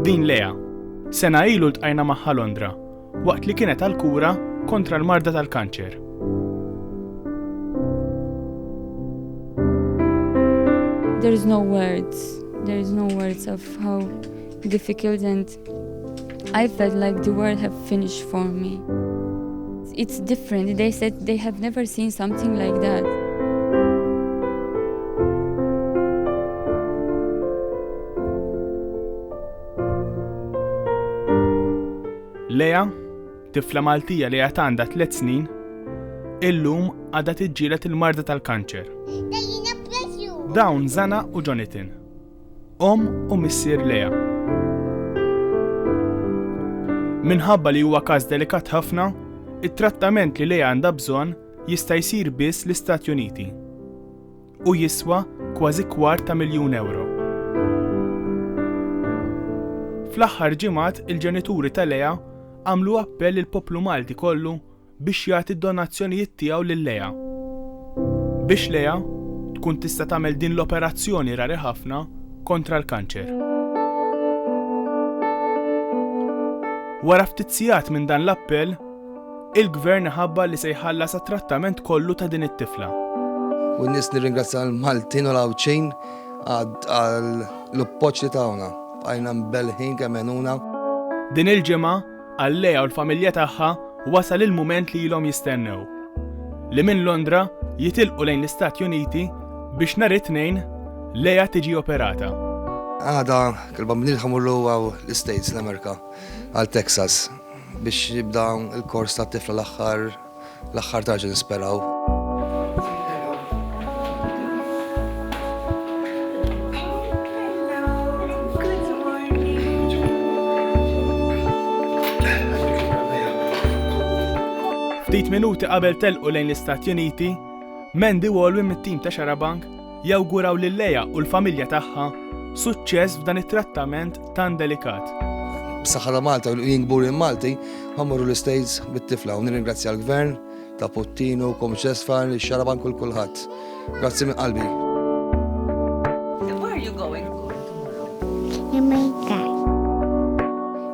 Din Lea. Sena ilu ltqajna magħha Londra, waqt li kienet għal kura kontra l-marda tal-kanċer. There is no words. There is no words of how difficult and I felt like the world have finished for me. It's different. They said they have never seen something like that. Lea, tifla Maltija li għat għandha tliet snin, illum għadha tiġġielet il-marda tal-kanċer. Dawn Zana u Jonathan Omm u Missier Lea. Minħabba li huwa każ delikat ħafna, it-trattament li Lea għandha bżonn jista' jsir biss l-Istati Uniti u jiswa kważi kwart ta' miljun ewro. Fl-aħħar ġimgħat il-ġenituri ta' Lea għamlu appell lill-poplu Malti kollu biex jagħti d-donazzjonijiet tiegħu lil Leah. Biex Leah tkun tista' tagħmel din l-operazzjoni rari ħafna kontra l-kanċer. Wara ftit sigħat minn dan l-appell, il-Gvern ħabbar li se jħallas għat-trattament kollu ta' din it-tifla. U n-nies nirringrazzja l-Maltin u l-Għawdxin għall-appoġġ li tawna. Bqajna mbelħin kemm għenuna. Din il-ġimgħa, Għal Lea u l-familja tagħha wasal il-mument li ilhom jistennew. Li minn Londra jitilqu lejn l-Istati Uniti biex nhar it-Tnejn Lea tiġi operata. Għada il-bambin ħamurlu għaw l-States l-Amerika għal Texas biex jibda il-kors ta' tifla l-aħħar L-aħħar tarġa nisperaw. Ftit minuti qabel telqu lejn l-Istati Uniti, Mandy Walwin mit-tim ta' Xarabank Jawguraw lil Lea u l-familja tagħha suċċess f'dan it-trattament tant delikat. B'saħħa ta' Malta u jien kburi Malti, ħammorru l-Istates bit-tifla u nirringrazzja l-Gvern ta' Puttinu, Kom Ċesfar, xaraban kull kulħadd. Grazzi minn qalbi.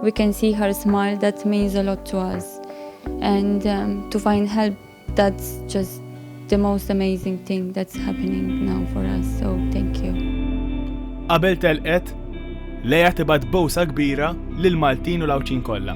We can see her smile that means a lot to us and um, to find help That's just the most amazing thing that's happening now for us, so thank you. Qabel telqet, Leja tibad bowsa kbira lil Maltin u l-Awċin kollha.